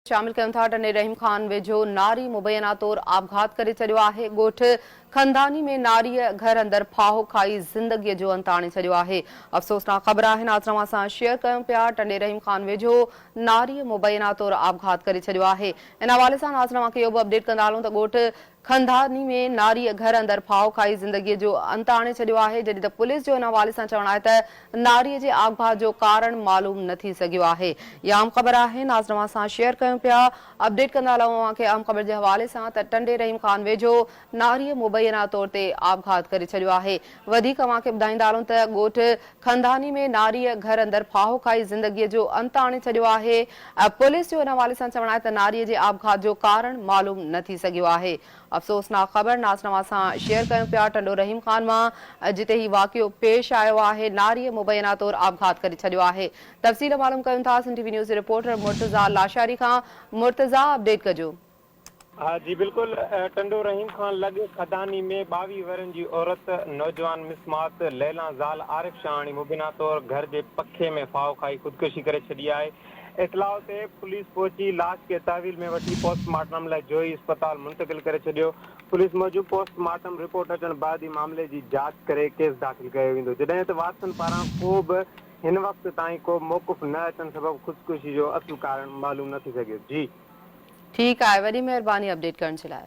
شامل ڪيون ٿا، ٽنڊي رحيم خان ويجهو ناري مبينا طور آپگهات ڪري ڇڏيو آهي، ڳوٺ کنڌاني ۾ ناريء گهر اندر ڦاهو کائي زندگيء جو انت آڻي ڇڏيو آهي، افسوسناڪ خبر آهن آز توهان سان شيئر ڪيون پيا، ٽنڊي رحيم خان ويجهو ناريء مبينا طور آپگهات ڪري ڇڏيو آهي، ان حوالي سان آز توهان کي اهو به اپڊيٽ ڪندا هلون ته ڳوٺ خانداني ۾ ناريء گهر اندر ڦاهو کائي زندگيء جو انت آڻي ڇڏيو آهي، جڏهن ته پوليس جو ان حوالي سان چوڻ آهي ته ناريء جي آگ ڀاء جو ڪارڻ معلوم نه ٿي سگهيو آهي. هي اهم خبر آهي ناز نواز سان شيئر ڪيون پيا اپڊيٽ ڪندا هلون اوهان کي اهم خبر جي حوالي سان ته ٽنڊي رحيم خان ويجهو ناريء مبينا طور تي آپگهات ڪري ڇڏيو آهي وڌيڪ اوهان کي ٻڌائيندارون ته ڳوٺ کنڌاني ۾ ناريء گهر اندر ڦاهو کائي زندگيء جو انت آڻي ڇڏيو آهي. پوليس جو ان حوالي سان چوڻ آهي ته ناريء جي آپگهات جو ڪارڻ معلوم نه ٿي سگهيو آهي. افسوسناڪ خبر نازنواز سان شيئر ڪيون پيا ٽنڊو رحيم خان مان جتي هي واقعو پيش آيو آهي ناريء مبينا طور آپگهات ڪري ڇڏيو آهي تفصيل معلوم ڪيون ٿا سنڌ ٽي وي نيوز جي رپورٽر مرتضيٰ لاشاري کان مرتضيٰ اپڊيٽ ڪجو. ها جي بلڪل ٽنڊو رحيم خان لڳ خداني ۾ ٻاويهه ورهين جي عورت نوجوان مس ماس ليلان زال عارف شاهاڻي مبينا طور گهر جي پکي ۾ ڦاهو کائي خودڪشي ڪري ڇڏي آهي اطلاع تي پوليس پهچي لاش کي تحويل ۾ وٺي پوسٽ مارٽم لاء جوهي اسپتال منتقل ڪري ڇڏيو پوليس موجب پوسٽ مارٽم رپورٽ اچڻ بعد ئي معاملي جي جاچ ڪري ڪيس داخل ڪيو ويندو جڏهن ته وارثن پاران ڪو به هن وقت تائين ڪو موقف نه اچڻ سبب خودڪشي جو اصل ڪارڻ معلوم نه ٿي سگهيو جي ٺيڪ آهي وڏي مهرباني اپڊيٽ ڪرڻ جي لاء.